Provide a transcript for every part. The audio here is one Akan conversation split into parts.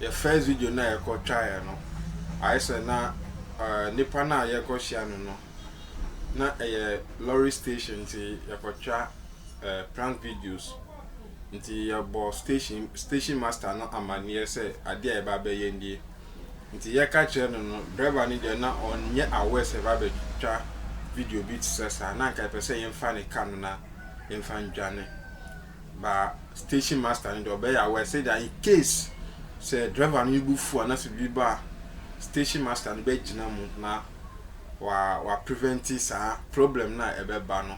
Yɛ first video no a yɛkɔ twaeɛ no ayɛ sɛ na nipa no a yɛkɔ hyia no no na ɛyɛ lorry station nti yɛkɔ twa prank videos nti yɛbɔ station station master no amaneɛ sɛ adeɛ a yɛba bɛyɛ nie nti yɛka kyerɛ no no driver no deɛ na ɔnyɛ aware sɛ yɛba bɛtwa video bi te sɛ saa na nka yɛpɛ sɛ yɛmfa ne ka no na yɛmfa ndwane ba station master no de ɔbɛyɛ aware sɛ da in case sɛ driver no bo fu anaasɛ biribi ba a station master no bɛgyina mu na wa wa prevent saa problem no a ɛbɛba no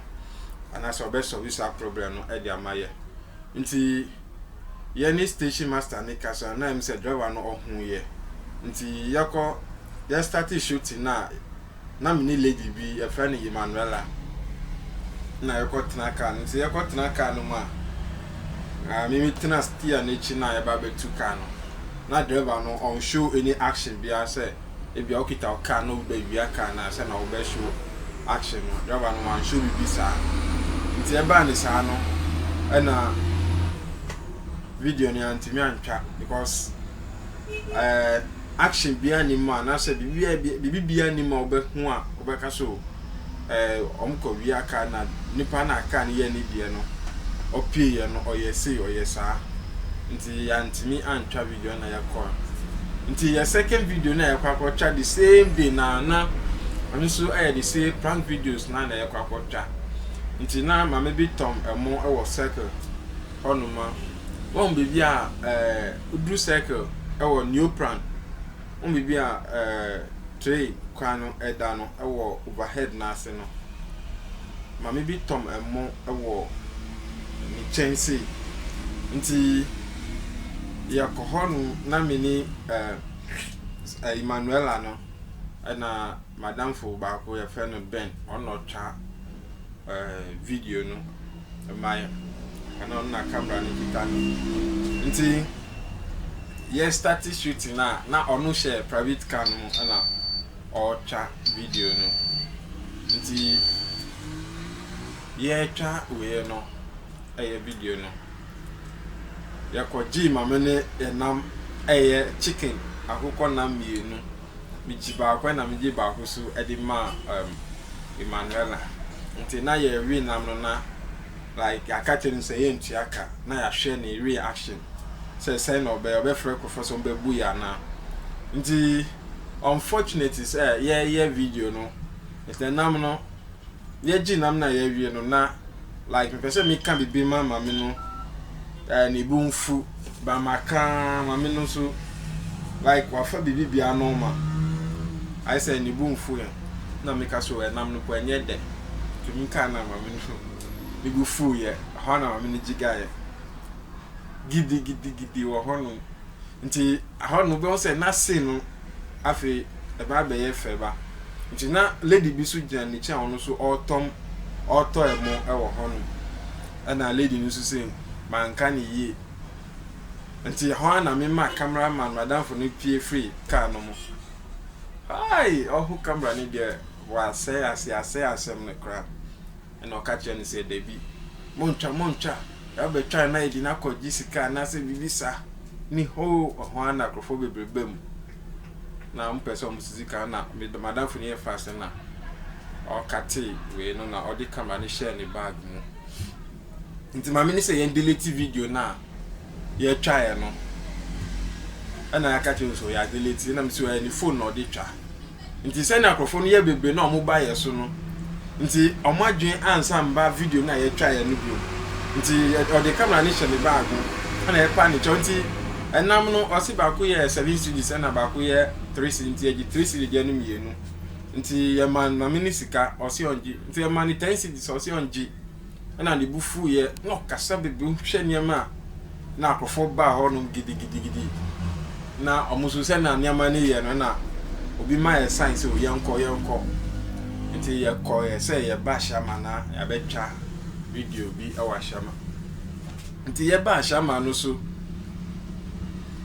anaasɛ ɔbɛsɔlve saa problem no de ama yɛ nti yɛne station master no kasa na ɛm sɛ driver no ɔho yɛ nti yɛkɔ yɛstate shooting no a na me ne lady bi, yɛfrɛ no Emmanuella na yɛkɔtena car no mu. Sɛ yɛkɔtena car no mu a, ah, me metena steer no akyi na yɛba bɛtu car no. Na driver no ɔnshow any action biara sɛ ebia wokita wo car na obi bɛwia car no a sɛ na wobɛshow action no. Driver no wanshow biribi saa. Nti ɛbaa ne saa no, ɛna video no yɛantumi antwa because eh, action biara nni mu a, anaasɛ biribi biara nni mu a wobɛho a wobɛka so eh, wɔn kɔ wia kaa na nipa na kaa no yɛ ne deɛ no ɔpie yɛ no ɔyɛ sei ɔyɛ saa nti yɛantumi antwa video na yɛkɔ a nti yɛ second video na yɛkɔ akɔtwa the same day na na ɛno nso ɛyɛ the same prank videos na na yɛkɔ akɔtwa nti na maame bi tɔm ɛmo ɛwɔ circle hɔnoma wɔn biribi a ɛɛ. Eh, Woduru circle wɔ neopran ho biribi a tray kwan no da no wɔ overhead no ase no, maame bi tɔm ɛmo wɔ ne kyɛnsee nti yɛkɔ hɔ nom na me ne Emmanuella no ɛna madamfo baako yɛfrɛ no Ben ɔno na ɔtwa video no. mmaeɛ ɛna ɔno na camera no kita no nti yɛ start shooting na na ɔno hyɛ private car no mu ɛna ɔretwa video no nti yɛretwa wei no ɛyɛ video no yɛkɔ gyee maame ne yɛnam ɛyɛ chicken akokɔ nam mmienu. Mekyi baako na megyee baako so de maa um, Emanuela. Nti na yɛrewe nam no na like yɛaka kyerɛ no sɛ yɛntua ka na yɛahwɛ ne reaction sɛ sɛn na ɔbɛyɛ, ɔbɛfrɛ nkurɔfoɔ sɛ ɔmbɛbu yɛ anaa. Nti unfortunately sɛ yɛreyɛ video no, nti nam no yɛ gye nam na yɛ wie no na like me pɛ sɛ me ka bibi ma mame no eh, ne bo nfu ba ma ka mame no so like wafa bibi bia nɔɔma ayɛ sɛ ne bo nfu yɛ na me ka so ɛnam no po ɛnyɛ dɛ to me ka na mame no ne bo fu yɛ hɔ na mame no gyiga yɛ gidi gidi gidi wɔ hɔ no nti ahɔ no bɛ sɛ na se no Afei ɛba bɛyɛ fɛ ba. Nti na lady bi so gyina n'akyi a ɔno nso ɔɔtɔm ɔɔtɔ ɛmo ɛwɔ hɔ nom. Ɛna lady no nso se manka no yie. Nti ɛhɔ ara na me ma camera man m'adamfo no pue firi car no mo. Aii! Ɔho camera no deɛ w'asɛe asɛe asɛe asɛm no koraa. Ɛnna ɔka kyerɛɛ no sɛ, Dabi, montwa, montwa, deɛ wobɛtwa no na ayɛ den akɔ gye sika anaasɛ biribi saa ni hoo, ɛhɔ ara na nkurɔfoɔ bebree baa mu, na wɔpɛɛ sɛ wɔsi sika, ɛnna me m'adamfo no yɛ fast na ɔkatee wei no na ɔde camera no hyɛɛ ne bag mu. Nti maame no sɛ yɛn delete video no a yɛtwaeɛ no, ɛnna yɛaka kyerɛ no sɛ yɛadelete, ɛnna me sɛ ɔyɛ ne phone na ɔde twa. Nti sɛnea nkurɔfo no yɛ bebree na wɔn bayɛ so no nti wɔn adwene ansan mma video no a yɛtwaeɛ no bio nti ɔde camera no hyɛ ne bag mu ɛna ɛpa ne kyɛw nti ɛnam no ɔse baako yɛ seven cedis ɛna baako yɛ three cedis nti yɛgye three cedis deɛ no mmienu nti yɛma mame no sika ɔse ɔngye nti yɛma no ten cedis ɔse ɔngye na ne bo fuiɛ, na ɔkasa bebree, wohwɛ nneɛma a, na akorɔfoɔ baa hɔ nom gidigidigidi, na wɔn nso sɛ na nneɛma no yɛ no, na obi ma yɛ sign sɛ o yɛnkɔ, yɛnkɔ, nti yɛkɔ yɛ sɛ yɛba Ashama na yɛabɛtwa video bi wɔ Ashama, nti yɛba Ashama no so,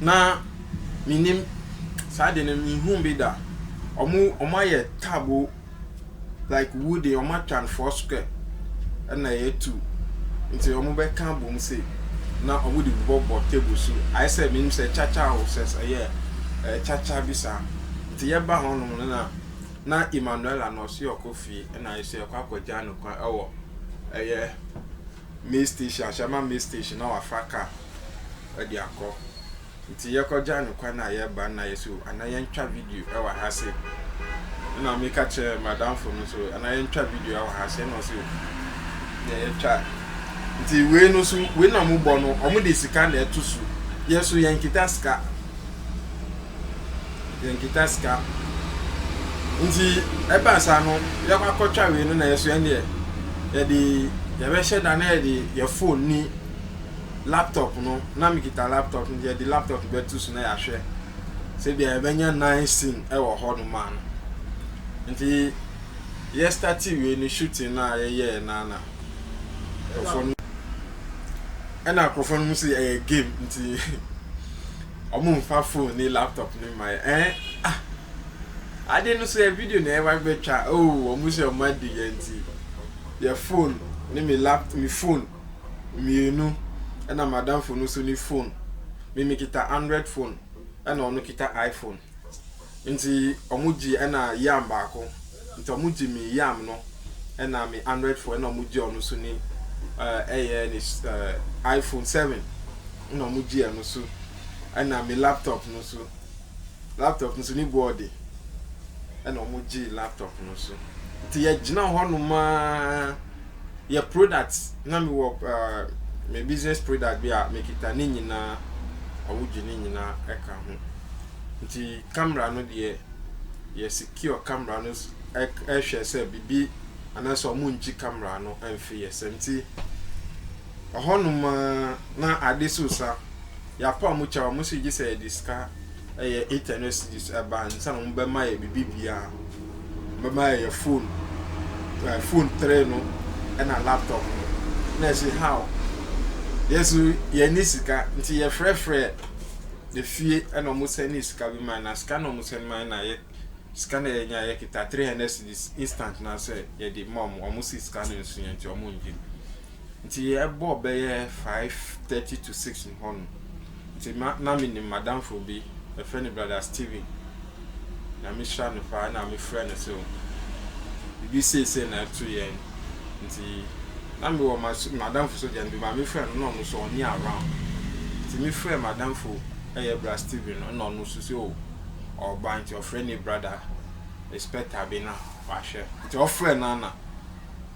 na menim saa de no, menhuu bi da, wɔn ayɛ table. like wu deɛ ɔmo atwa no four square ɛna ɛyɛ two nti ɔmo bɛ ka abom sei na ɔmo de bɔ bɔ table so ayɛ sɛ menim sɛ kyakya o sɛ ɛyɛ ɛɛ kyakya bi saa nti yɛ ba hɔ nom no na na Emmanuela na ɔsi ɔkɔ fie ɛna ayɛ sɛ ɛkɔ akɔ gya no kwan ɛwɔ ɛyɛ mail station ahyɛma mail station na wafa car ɛde akɔ. Nti yɛkɔ gya no kwan a yɛba no na yɛ so ana yɛntwa video ɛwɔ ha se ɛna me ka kyerɛ madamfo no so ana yɛntwa video ɛwɔ ha se ɛna ɔse o deɛ yɛtwa nti wei no so wei na ɔmo bɔ no ɔmo de sika na ɛto so yɛ so yɛn kita sika yɛn kita sika nti ɛba saa no yɛkɔ akɔtwa wei no na yɛ so yɛn deɛ yɛde yɛbɛhyɛ da na yɛde yɛ phone ni. laptop no na mekita laptop no yɛde laptop no bɛto so na yɛahwɛ sɛ bia yɛbɛnya nine scene wɔ hɔ nom a no nti yɛstarte wei no shooting no a yɛyɛɛ no ana nkurɔfoɔ no ɛna nkurɔfoɔ no mu sɛ ɛyɛ game nti ɔmo mfa phone ne laptop no ma yɛ ɛn ah ade no so yɛ video na ɛwa bɛtwa oo ɔmo sɛ ɔmo adi yɛ nti yɛ phone ne me laptop me phone mmienu ɛna madamfo no nso ne phone me mekita android phone ɛna ɔno kita iphone nti ɔmo gye ɛna yam baako nti ɔmo gye me yam no ɛna me android phone ɛna ɔmo gye ɔno nso ne ɛyɛ ne iphone seven ɛna ɔmo gye ɛno nso ɛna me laptop no nso laptop no nso ne board ɛna ɔmo gye laptop no nso nti yɛgyina hɔ nom aa. yɛ product na mi wɔ me business product bi a me kita ne nyinaa awogye ne nyinaa ɛka ho nti camera no deɛ yɛ secure camera no ɛhwɛ sɛ bibi anaasɛ ɔmo ngye camera no ɛnfe yɛ sɛm ti Ɔhɔnom ara na ade so sa. Yɛapaw mu kyɛw a, wɔn nso regye sɛ yɛde sika, ɛyɛ eight hundred cedis, ba ansa na wɔbɛma yɛn biribiara. Wɔbɛma yɛn yɛn phone, ɛɛ phone three no ɛna laptop no. Na ɛse how? Yɛn nso yɛnni sika, nti yɛfrɛfrɛɛ efie ɛna wɔn sɛndee sika bi mae. Na sika no a wɔsɛnde mae no na yɛ sika no a yɛnya yɛkita three hundred cedis instant no ara sɛ yɛde ma wɔn. Wɔn se sika no nso yɛ nti wɔn nngye. Nti ɛbɔɔ bɛyɛ five thirty to six mu hɔ no, nti ma na me nim m'adamfo bi, yɛfrɛ no brother Steven, Nyame hyira no paa, ɛna me frɛ no sɛ o biribi sei sei na ɛto yɛn, nti na me wɔ m'adamfo so deɛ no, bema me frɛ no na ɔno nso ɔnni around, nti me frɛ m'adamfo ɛyɛ bra Steven no, ɛna ɔno nso sɛ o ɔɔba, nti ɔfrɛ ne brother Inspector bi na w'ahwɛ, nti ɔfrɛ no a na.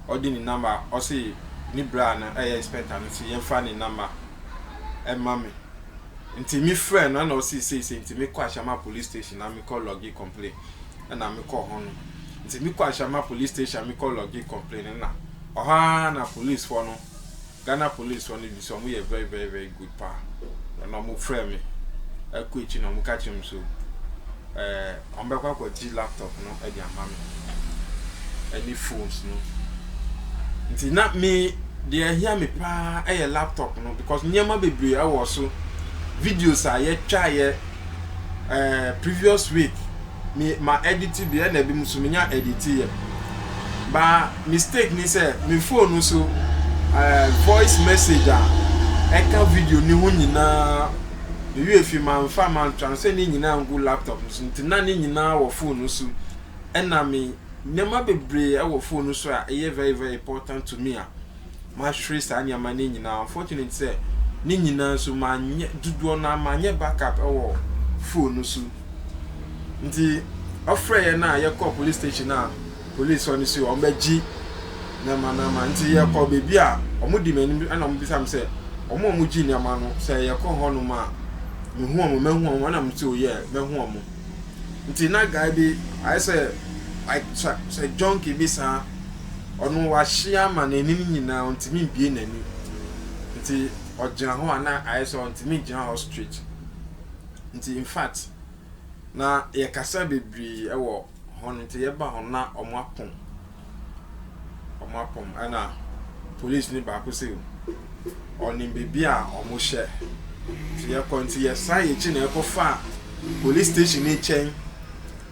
ɔde ne number a ɔse ne bra no ɛyɛ inspector no se yɛmfa ne number ɛma me nti me frɛ no ɛna ɔse seisei nti mekɔ Ashama police station na mekɔ logge complain ɛna mekɔ hɔ no nti mekɔ Ashama police station mekɔ logge complain ɛna ɔhɔ ara na policefoɔ no Ghana police fɔ no bisa ɔmo yɛ very very very good paa na na ɔmo frɛ me ɛkɔ akyi na ɔmo ka kyerɛ me so ɛɛ ɔmo bɛkɔ akɔ gye laptop no ɛde ama me ɛne phones no nti na me deɛ ɛhia me paa ɛyɛ laptop no because nneɛma bebree ɛwɔ so videos a yɛtwa yɛ ɛɛ previous week. me ma edit bi ɛna ebi mo so menya edit yɛ ba mistake ni sɛ me phone no so ɛɛ voice message a ɛka video ni ho nyinaa me wie fi ma nfa ma ntransfer ni nyinaa ngu laptop no so nti na ne nyinaa wɔ phone no so ɛna me nneɛma bebree ɛwɔ phone no so a ɛyɛ very very important to me a mahwere saa nneɛma no nyinaa. Unfortunate sɛ ne nyinaa nso manyɛ dodoɔ no ara manyɛ backup wɔ phone no so. Nti ɔfrɛ yɛn a yɛkɔ police station a police hɔ no si hɔ wɔn bɛgye nneɛma no ama. Nti yɛkɔ baabi a wɔn di m'anim ɛna wɔn bisa me sɛ wɔn a wɔgye nneɛma no sɛ yɛkɔ hɔ nom a mehu wɔn mɛhu wɔn ɛna wɔn sɛ oh yeah mɛhu wɔn. Nti na guy bi ayɛ sɛ like sɛ junkie bi saa. Ɔno w'ahye ama n'anim nyinaa ɔntumi mbue n'ani nti ɔgyina hɔ a na ayɛ sɛ ɔntumi ngyina hɔ straight nti infact na yɛkasa bebree ɛwɔ hɔ no nti yɛba hɔ na ɔmo apɔn ɔmo apɔn ɛna police ni baako sɛ ɔnim beebi a ɔmo hyɛ nti yɛkɔ nti yɛsan yɛkyi na yɛkɔ fa police station ni kyɛn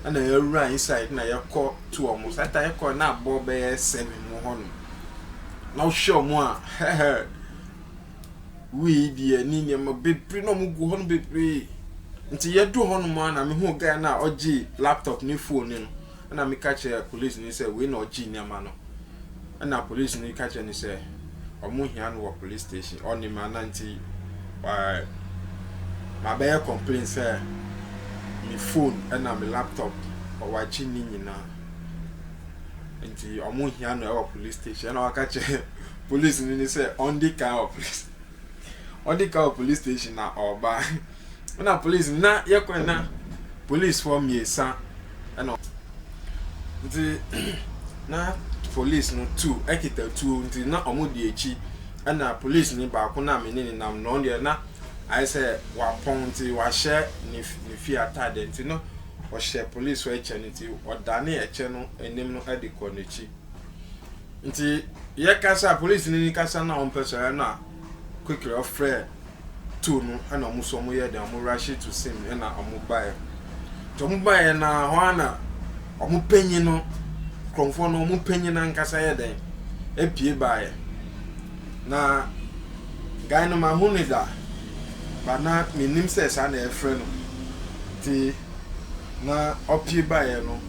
ɛna yɛwura inside na yɛkɔ to wɔn. Saa time no kɔɔ no na abɔ bɛyɛ seven wɔ hɔ nom. Na wohwɛ wɔn a hɛhɛr wei deɛ ne nneɛma bebree na wɔgu hɔ no bebree. Nti yɛduru hɔ nom a na mehu guy no a ɔgye laptop ne phone no na meka kyerɛ police no sɛ wei na ɔgye nneɛma no. Ɛna polisini yi ka kyerɛɛ no sɛ wɔhia no wɔ police station. Ɔnim ana nti ɛɛ mabɛyɛ complain sɛ me phone ɛna me laptop wɔ akyi ne nyinaa. Nti wɔhia no wɔ police station. Ɛna waka kyerɛ polisini no sɛ ɔndi kan wɔ police ɔdi kan wɔ police station na ɔreba. Ɛna police nna yɛ kwan na police foɔ mmiɛnsa ɛna ɔmo nti na police no tu ɛkita tuo nti na ɔmo di akyi ɛna police ni baako na me ne ne nam na ɔno deɛ na ayɛ sɛ wapɔn nti wahyɛ ne ne fie ataadeɛ nti na ɔhyɛ police foɔ ɛkyɛ no nti ɔdane ɛkyɛ no anim no ɛde kɔ n'akyi nti yɛ kasa police ni kasa na ɔmpɛ sɛ ɛna. Quickly ɔfrɛɛ tow no na ɔmo so ɔmo yɛɛ dɛn ɔmo rush to scene na ɔmo baeɛ. Nti ɔmo baeɛ no ara hɔ ara na ɔmo panyin no Krɔmfoɔ no ɔmo panyin no ankasa yɛ dɛn apue baeɛ. Na guy no mahu no da but na mennim sɛ saa na yɛfrɛ no nti na ɔpue baeɛ no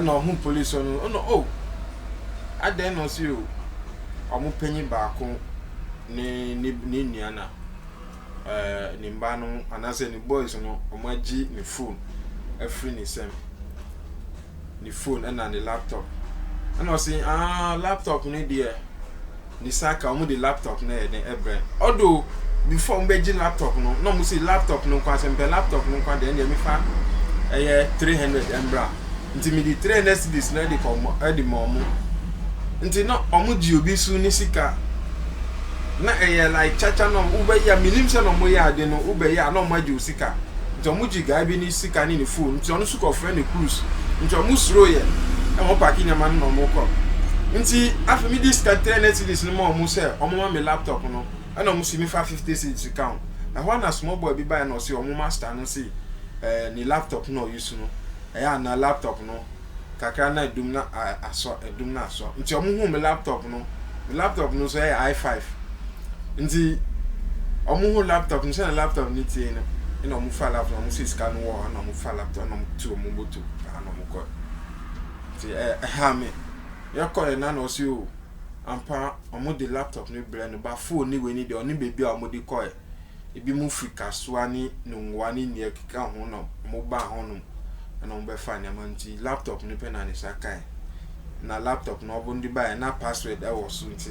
na ɔhu policefoɔ no na oh adɛn na ɔse oh. wɔn panyin baako ne ne nua na ɛɛ ne mma no anaasɛ ne boys no wɔagye ne phone afiri ne nsam. Ne phone ɛna ne laptop. Ɛna ɔsi aa laptop no deɛ ne sa ka wɔn de laptop no ɛyɛ den ɛbrɛ. Although before wɔn bɛgye laptop no na wɔn si laptop no nko asɛ mpɛ laptop no nko deɛ ɛna mi fa ɛyɛ three hundred ɛmbra. Nti me de three hundred cedis no de kɔ ma de ma ɔmo. Nti na ɔmo gye obi so ne sika. Na ɛyɛ like kyakya na ɔmo wobɛyɛ a menim sɛ na ɔmo yɛ ade no wobɛyɛ a na ɔmo agye wo sika. Nti ɔmo gye guy bi ne sika ne ne phone nti ɔno nso kɔfrɛ ne cruise. Nti ɔmo suro yɛ na ɔmo paake nneɛma no na ɔmo kɔ. Nti afei me de sika three hundred cedis no ma ɔmo sɛ ɔmo ma me laptop no ɛna ɔmo si me fa fifty cedis ka ho. Ɛhɔ na small boy bi baeɛ na ɔse ɔmo master no se Ɛɛ ne laptop na ɔuse no ɛyɛ a na laptop no kakra na adum no asɔ adum no asɔ nti ɔmo hu me laptop no me laptop no nso ɛyɛ I five nti ɔmo hu laptop no sɛnea laptop no tie no ɛna ɔmo fa laptop ɔmo si sika no wɔ ɛna ɔmo fa laptop ɛna ɔmo tu ɔmo moto ɛna ɔmo kɔ nti ɛɛ ɛha me yɛkɔ yɛ na na ɔsi o ampa ɔmo de laptop no brɛ no ba phone ne wei ne deɛ ɔne beebi a ɔmo de kɔ yɛ. Ebinom firi Kasoa ne Nungua ne nea ɛkeka ho na wɔbaa hɔnom na wɔbɛfaa nneɛma nti, laptop no pɛ na ne nsa kae. Na laptop no ɔbon de baeɛ na password wɔ so nti,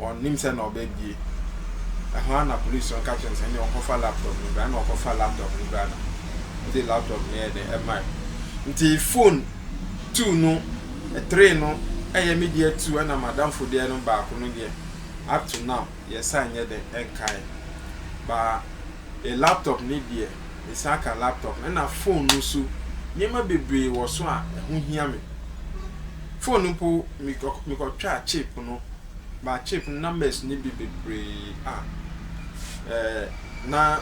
ɔnnim sɛ na ɔbɛbie. Ɛhɔ ara na polisi no ka kyerɛ no sɛ ɛnneɛ ɔnkɔfa laptop no bra na ɔkɔfa laptop no bra na ɔde laptop no yɛɛ dɛ ɛmae. Nti phone two no, three no yɛ me deɛ two ɛna m'adamfo deɛ no baako no deɛ up to now. Yɛsan nyɛ dɛn nkae. Ba yɛ laptop no deɛ, mesan ka laptop no, ɛna phone no nso, nneɛma bebree wɔ so a ɛho hia me. Phone no mpo, mekɔtwaa chip no, ba chip no numbers no bi bebree a, ɛɛ na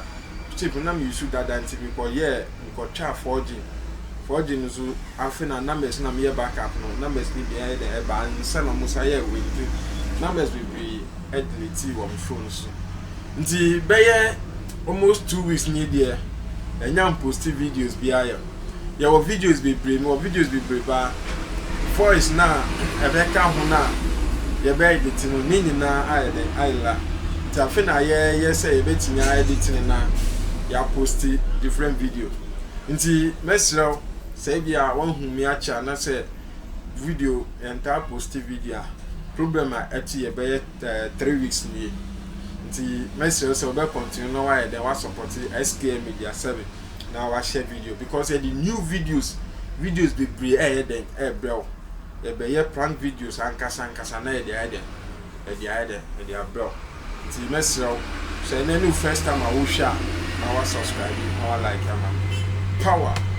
chip no na me use dada nti mekɔyɛɛ. Mekɔtwaa forging, forging no so afei na numbers na meyɛ back up no numbers no bi ayɛ dɛ ɛba ansa na ɔmo san yɛɛ wei nti numbers bebree ɛdeletee wɔ me phone so nti bɛyɛ almost two weeks nie deɛ ɛnya mposti videos biaa yɛ yɛwɔ videos bebree mewɔ videos bebree paa. Voice no a ɛbɛka ho no a yɛbɛedite no, ne nyinaa ayɛ dɛ, ayɛ la. Nti afe na yɛɛyɛ sɛ yɛbɛtumi aedite no na yɛaposte different video. Nti mɛserɛ wo sɛ ebia woahu me akyɛ anasɛ video, yɛntaa poste video a, problem a ɛto yɛ bɛyɛ three weeks nie. Nti mɛserɛ wo sɛ wobɛ continue na woayɛ dɛn, woasɔpɔte SKM Media 7. na wahyɛ video because yɛde new videos videos bebree ɛyɛ dɛn ɛbrɛ wo yɛbɛyɛ prank videos ankasa ankasa na yɛde ayɛ dɛn yɛde ayɛ dɛn yɛde abrɛ wo nti mɛsrɛ wo sɛ ɛnɛ ne first time a wohwɛ a na wasubscribe na wa like ama power